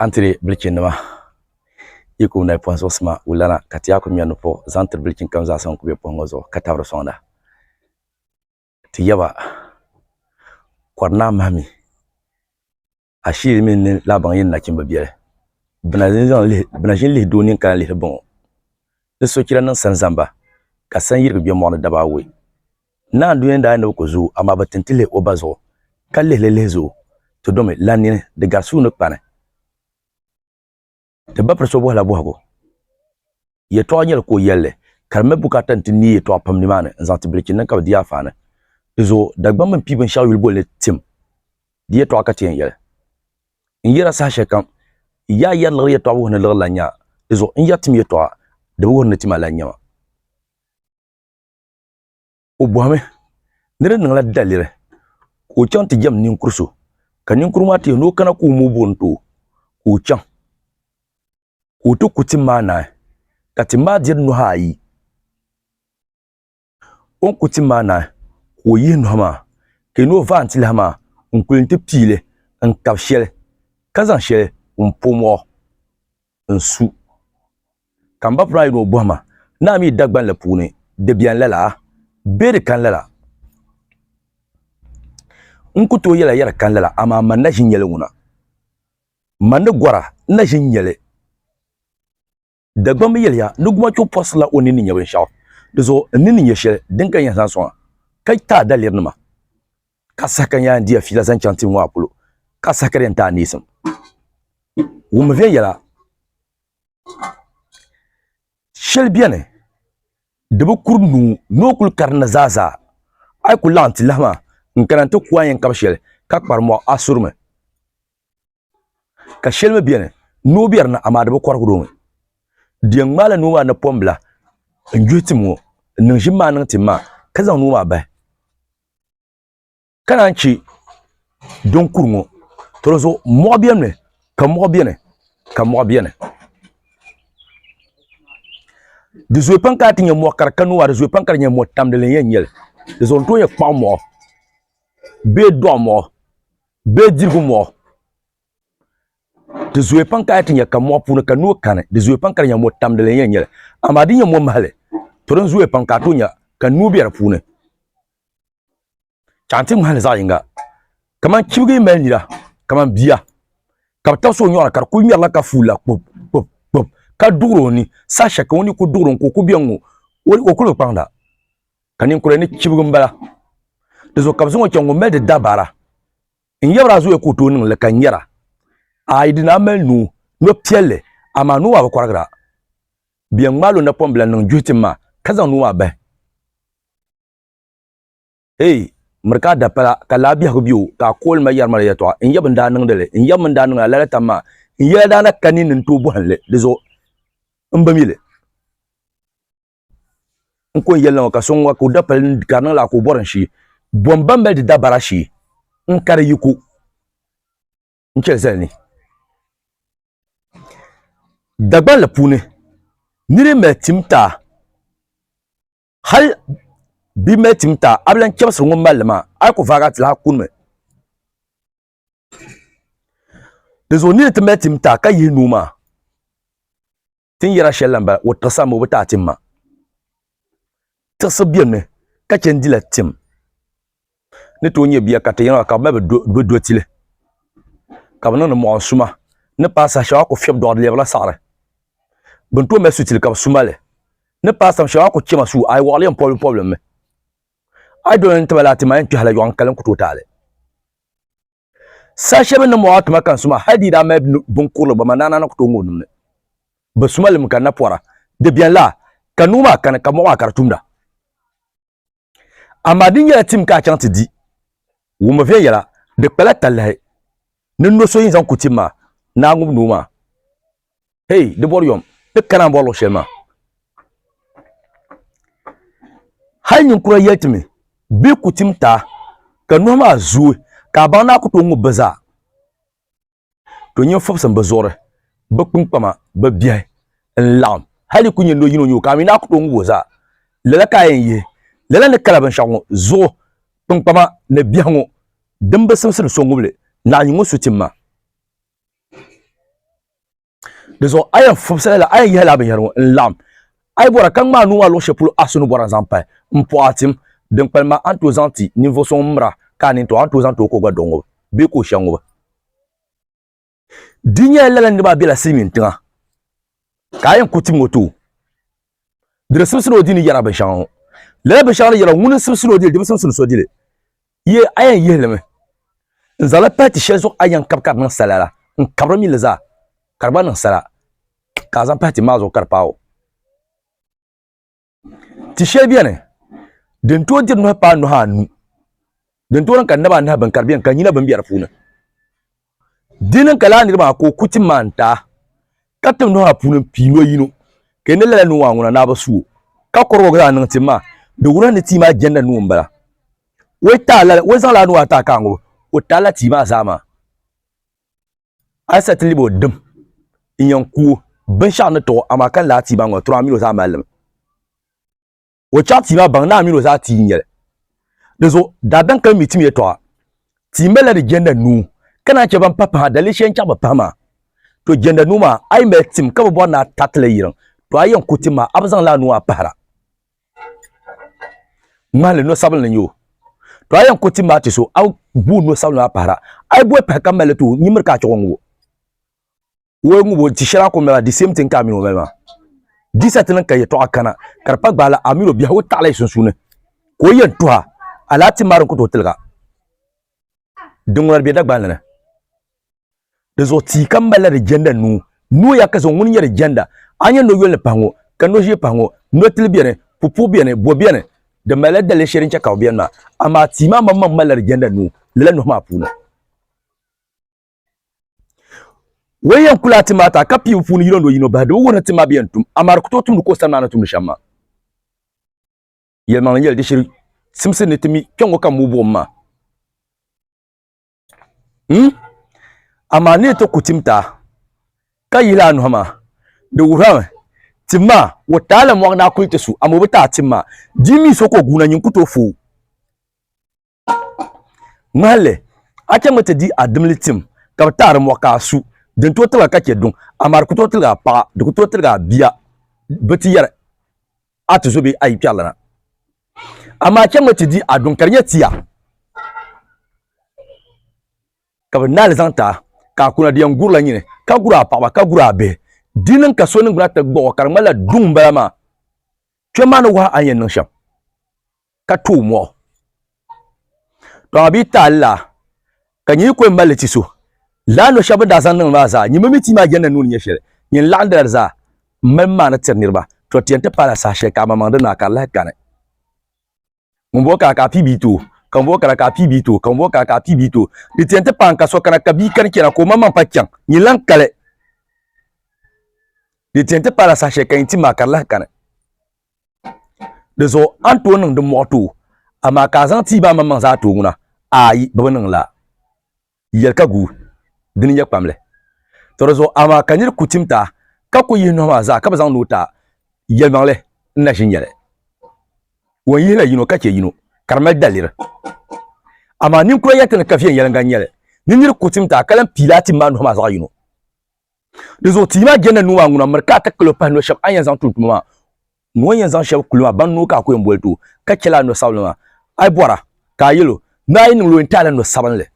Antiri bilichin nima yi ku nayi pɔhim zuɣu sima wulana ka ti yaa ku mɛri ni puɣi zaŋ tiri bilichin kam zaa sa ŋun ku bɛ pɔhim ŋɔ zuɣu ka tabiri sɔŋda. Ti yaba, kɔri naa mahi mi ashiiri mini ni lahi baŋ yi ni nachimba biɛli. Bina ʒi n-lihi doo nini ka lahi lihiri bɔŋɔ. Ni sochira niŋ sani zamba ka sanyirigi bɛ mɔɣu ni daba awɔi. Naanduya ni daa ni bi ku zooi, amaa bi tin ti lihi o ba zuɣu, ka lihi li lihi zuɣu, ti domi lan nini, di gari suu ni kpani. Ti ba piri so bɔhila bɔhigu, yɛtɔɣa nyɛli ka o yɛli li, ka di mali bukaata nti neei yɛtɔɣa pam nimaani n-zaŋ ti bilichi niŋ ka bi di yaafaani. Di zuɣu, Dagbamba mini pii binshɛɣu yuli boli ni tim di yɛtɔɣa ka ti yɛn yɛli, N yɛra saha shɛlikam, yaa yɛri liɣiri yɛtɔɣa wuhi ni liɣiri lan nya, di zuɣu n yɛri tim yɛtɔɣa di bi wuhi ni tim a lan nyama. o bɔhimi ni di niŋla daliri ka o chaŋ ti jɛm ninkur so ka ninkur maa ti yɛli ni o kana ka o mɔ o buɣim ti o ka o chaŋ ka o ti ku tim maa naai ka tim maa diri nuhi ayi o ni ku tim maa naai ka o yihi nuhi maa ka yɛli ni o vaai n-ti lahi maa n-kuli ti pii li n-kab shɛli ka zaŋ shɛli m-pom o n su. Ka m ba pun daa yi ni o bɔhi ma, Naa mi Dagbaŋ la puuni di beni lala bee di kani lala? N ku tooi yɛla yɛri kani lala, amaa man na ʒi nyɛli ŋuna. Man ni gɔra n na ʒi nyɛli. Dagbaŋ mi yɛliya ni gumachuɣu pɔrisirila o nini ni nya binshɛɣu, di zuɣu n nini ni nya shɛli din ka n yɛn zaŋ sɔŋ a, ka ti a dalirinima. ka saha ka n yaan diya fiila zaŋ chaŋ tiŋ ŋɔ a polo, ka saha ka di yɛn ti a neesim. Wummi viɛnyɛla shɛli beni di bi kuri nuu ni o kul karinda zaazaa. A yi ku laɣim ti lahi maa, n kana nti ku a yɛn kab shɛli, ka kpari mɔɣu a surimi. ka shɛli mi bɛni noo bɛ di ni amaa di bi kɔrigi di o mi deei ŋmaai la noo maa napɔŋ bila n yuhi tim ŋɔ n niŋ ʒim maa niŋ tim maa ka zaŋ noo maa bahi ka naan chɛ din kuri ŋɔ to di zuɣu mɔɣu bɛ mi ka mɔɣu bɛni ka mɔɣu bɛni di zooyi pam ka a ti nyɛ mɔɣu kari ka noo maa di zooyi pam ka di nyɛ mɔɣu tamdili n yɛn nyɛli di zuɣu n tooi yɛn kpaŋ mɔɣu bee dɔɣi mɔɣu Bɛ dirigu mɔɣu di zooi pam ka a ti nyɛ ka mɔɣu puuni ka noo kani di zooi pam ka di nyɛ mɔ tamdili n yɛn nyɛli amaa di nyɛ mɔ mahali to din zooi pam ka a to nyɛ ka noo bɛ di puuni ka n ti ŋmahali zaɣ yinga kamani chibigi mali nira kamani bia ka bi tabisi o nyoɣani ka di ku ŋmɛrila ka fuula kpub kpub kpub ka duɣuri o ni saha shɛli ka o ni ku duɣuri n ka o ku biɛŋ ŋo o ku bi kpaŋda Ka ninkura ni chibigu n bala. Di zuɣu ka bi zaŋ o chaŋ ŋun mali di dabara n yabira a zuya ka o tooi niŋ li ka nyɛra a yi di ni a mali nuu no piɛlli amaa nuu maa bi kɔrigira bia ŋmaali o napɔmbila n niŋ juhi tim maa ka zaŋ nuu maa bahi eei miri ka a dapala ka laa biɛhigu be o ka a kooli ma yɛri ma la yɛtɔɣa n yab n daa niŋdi li n yab mi n daa niŋ a lala tam maa n yɛla daa na ka ninni n tooi bɔhim li di zuɣu m bi mi li. n ko n yɛlina ŋɔ ka so ŋɔ ka o dapali ka di niŋla ka o bɔri n shee bɔn ban mali di dabara shee n ka di yiko n chɛli zali ni dagbanli puuni ni di mali tim taa hal bi mali tim taa a bi lan chɛbisiri ŋun malli maa a yi ku vaagi a ti lahi kunimi dinzuɣu ni di ti mali tim taa ka yihi nuu maa ti ni yɛra shɛli la m-bala, o tiɣisi a mi o bi ti a tim ma. Tiɣisi bemi ka chɛ n-dila tim ni tooi nyɛ bia ka ti yiŋa ka bɛ mali bɛ do ti li ka bɛ niŋdi mɔɣu suma ni paai saha shɛŋa a ku fiɛbi dɔɣiri lɛbirila saɣiri bɛ ni tooi mali su ti li ka bɛ su ma li ni paai saha shɛŋa a ku chɛ ma suu a yi wɔɣili yɛn pɔbilimpɔbili m-mi a yi doli ni ti mali a ti ma yɛn kpɛhila yɔɣu n-kali n-ku tooi ti a li. Saha shɛli bɛ ni mɔɣi tuma ka n suma hal di yi daa mali binkurili gba ma naana ni ku tooi ŋ o nimni. Bɛ suma li mi ka n na pɔra, Di beni laa, ka nuu maa kani, ka mɔɣu maa ka di tumda. Amaa di nyɛla tim ka a chaŋ ti di. Wummi viɛnyɛla, di kpala talahi ni no so yɛn zaŋ ku tim maa ni a ŋub nuu maa. hey di bɔri yom ti kana n bɔri luɣu shɛli maa hali ninkura yɛli ti mi bɛ ku tim taa ka nuhi maa zuui ka a baŋ ni a ku tooi ŋub bi zaa to nyin fubisi n bi zuɣuri bi kpinkpama bi biɛhi n laɣim hali ku nyɛ ni o yino nyoo ka a mi ni a ku tooi ŋub o zaa lala ka a yɛn yihi lala ni kala binshɛɣu ŋɔ zuɣu kpinkpama ni biɛhi ŋɔ din bi simsiri so ŋubili naɣanyin ŋɔ su tim maa di zuɣu a yɛn fubisila la a yɛn yihila binyɛri ŋɔ n laɣim a yi bɔra ka ŋmaa nuu maa luɣu shɛli polo a so ni bɔra zaŋ pahi n pɔɣa tim din kpalim maa a ni tooi zaŋ ti ninvuɣu so ŋun mira ka a nini tɔɣa a ni tooi zaŋ ti o ka o gba dɔɣi ŋubi bee ka o shɛhi ŋubi di nyɛla lala niriba maa bela silimiintiŋa ka a yɛn ku tim o too di di simsili o di ni yɛra binshɛŋa ŋɔ lala binshɛŋa ni yɛra ŋuni n-simsili o dili di bi simsili so dili ye a yɛn yihi li mi n zaŋ li pahi ti shɛli zuɣu a yɛn kabi ka di niŋ sala la n kabiri mi li zaa ka di gba niŋ sala ka a zaŋ pahi tim maa zuɣu ka di paai o. ti shɛli bɛni din tooi diri nuhi paai nuhi anu din tooi niŋ ka naba anahi bin ka di bɛni ka nyina bin bɛ di puuni di niŋ ka laa niri maa ka o ku tim maa n taai ka tim nuhi maa puuni n pii noli yino ka ni lala nuu maa ŋuna naa bi suo ka kɔrigi zaŋ niŋ tim maa di wuhi ni tia maa jɛnda nuu n bala o zaŋla nuu ata ka ŋubi o taala tia maa zaa maa Asa ti libi o dim n-yɛn ku o binshɛɣu ni tiɣ o, amaa ka lahi tia baŋ o, Tɔra mini o zaa mali li mi. O chaɣ tia maa baŋ naa mini o zaa tia n-nyɛ li. Dinzuɣu daadam ka bɛ mi timiya tɔɣa. Tia malila di jɛnda nuu, ka naan chɛ ban pahi pahi ha, daliri shɛli n-chaɣ bɛ pahi maa. To jɛnda nuu maa, a yi mali tim ka bi bɔri ni a tariti li yiriŋ, tɔ a yɛn ku tim maa, a bi zaŋ li a nuu a pahira. ŋmahili no sabinli n yo to a yɛn ku tim maa ti so a guu no sabinli maa pahara a yi boi pahi ka mali to nyimiri ka a chuɣu ŋubo o ŋubo di shɛli a ku mali di same thing ka a mini o mali maa disa ti niŋ ka yɛtɔɣa kana ka di pa gbaala a mini o biɛhigu taɣala yi sunsuuni ka o yɛn tuha alaati maa din ku tooi tiliga din ŋuna di bɛ Dagbanli ni di zuɣu tia kam malila di jɛnda nuu nooya ka zaŋ ŋuni nyɛ di jɛnda a nyɛ noyoli ni pahi ŋɔ ka noʒiɛ pahi ŋɔ notili biɛni pupuhi biɛni bo biɛni di malila daliya shɛli din chɛ ka bi biɛni maa amaa tia maa maŋmaŋ malila di jɛnda nuu lala nuhi maa puuni Wali yɛn kula ti maa ta ka pii bi puuni yino ni o yino bahi di bi wuhi ni ti maa bi yɛn tum amaa di ku tooi tumdi ka o sani maa ni tumdi shɛm maa yɛlimaŋli yɛli di shiri simsi ni ti mi kpɛ ŋɔ ka muu buɣum maa hmm? amaa ni ti ku tim taa ka yihila a nuhi maa di wuhirami tim maa o taa la mɔɣu ni a kuli ti su amaa o bi taai tim maa di mi so ka o guuna nyin ku tooi fooi Ŋmahalli, a chaŋ mi ti di a dimli tim, ka bi taɣiri mɔɣu ka a su, din tooi tiliga ka chɛ duŋ, amaa di ku tooi tiligi a paɣa, di ku tooi tiligi a bia, bɛ ti yɛri a ti zo bee a yi kpɛrilana. Amaa a chaŋ mi ti di a duŋ ka di nyɛ tia, ka bɛ naai li zaŋ ti a, ka a kuna di yɛn gurila nyini, ka gur a paɣiba, ka gur a bihi. Di niŋ ka so niŋgbuna ti gbuɣ o, ka di ŋmanila duŋ m-bala maa. Kpɛm maa ni wahi a ni yɛn niŋ shɛm. ka tooi mɔɣu tɔɣa bia taali la ka nyɛ ko n mali ti so laa no shɛba daa zaŋ niŋ maa zaa nyɛma mi ti maa jɛnda nuuni nyɛ shɛli nyɛ n laɣindila di zaa m mali maani tiri niriba to ti yɛn ti paala saha shɛli ka amaŋmaŋ di naa ka di lahi kani ŋunbɔŋɔ kana ka a pii bia ti o ka ŋunbɔŋɔ kana ka a pii bia ti o ka ŋunbɔŋɔ kana ka a pii bia ti o di ti yɛn ti paai n ka so kana ka bia kani chɛna ka o maŋmaŋ pa chaŋ nyɛ lan kali di ti yɛn ti paala saha shɛli ka nyɛ ti maa ka di lahi kani Di zuɣu a ni tooi niŋ din muɣi tooi, amaa ka a zaŋ tiiba a maŋmaŋ zaa tooi ŋuna? Aai, bɛ bi niŋ lala. Yɛli ka guui, dini n-nyɛ kpamli. Tɔ di zuɣu amaa ka nir ku tim ta, ka ku yihi nɔhi maa zaa ka bi zaŋ ni o ta, yɛlimaŋli n-na ʒi n-nyɛli. Ŋun yihila yino ka chɛ yino, ka di mali daliri. Amaa ninkura yɛlitali ni ka viɛnyɛliŋga n-nyɛ li, ni nir ku tim ta ka lan piila a tim maa nɔhi maa zaɣ yino. Di zuɣu tia maa jɛnda nuu maa ŋuna miri ka a ti kalo pahi no shɛba a ni yɛn zaŋ tum tuma maa ni o ni yɛn zaŋ shɛba kuli maa ban noo ka a ku yɛn boli ti o ka chɛla a no sabinli maa a yi bɔra ka a yɛl o ni a yi niŋli o yɛn ti a la no sabinli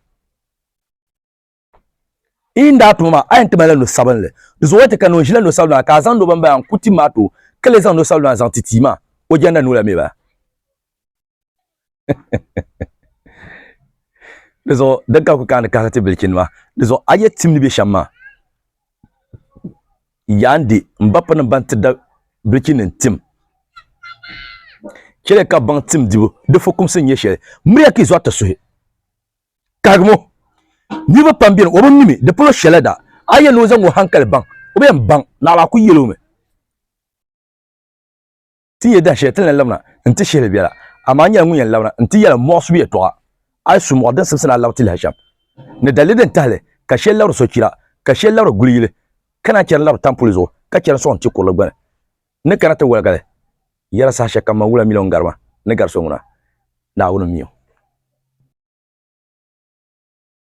yi ni daa tuma maa a yɛn ti malila no sabinli di zuɣu o ni ti kani o ʒila no sabinli maa ka a zaŋdi o bambaya n-ku tim maa ti o ka lee zaŋ no sabinli maa zaŋ ti tia maa o jɛnda nuu la mi bala. di zuɣu din ka ku kaani kahiri ti bilichini maa di zuɣu a yi yɛn tim ni bɛ shɛm maa yaan di n ba piri ni ban ti da bilichini nim tim chɛli ka baŋ tim dibu di fukumsi n nyɛ shɛli miriya ka i zɔri ti suhi kahigimo niriba pam bɛni o bi mi mi di polo shɛla da a yi yɛn ni o zaŋ o hankali baŋ o bi yɛn baŋ naɣila a ku yɛli o mi ti ni yɛ dahin shɛli ti ni lan labina n-ti shihili biɛla, amaa nyɛla ŋun yɛn labina n-ti yɛla mɔɣisibu yɛtɔɣa, a yi su mɔɣu din simsi ni a labi ti lahi chaŋ ni daliri din tahi li ka shɛli labiri sochira, ka shɛli labiri guli yili, ka naan chɛri n-labiri tampuli zuɣu, ka chɛri n-sɔɣi n-ti kurili gbini, ni kana ti waliga li, yɛla saha shɛli kam man wula miliɔn garima ni gari so ŋuna, Naawuni mi o.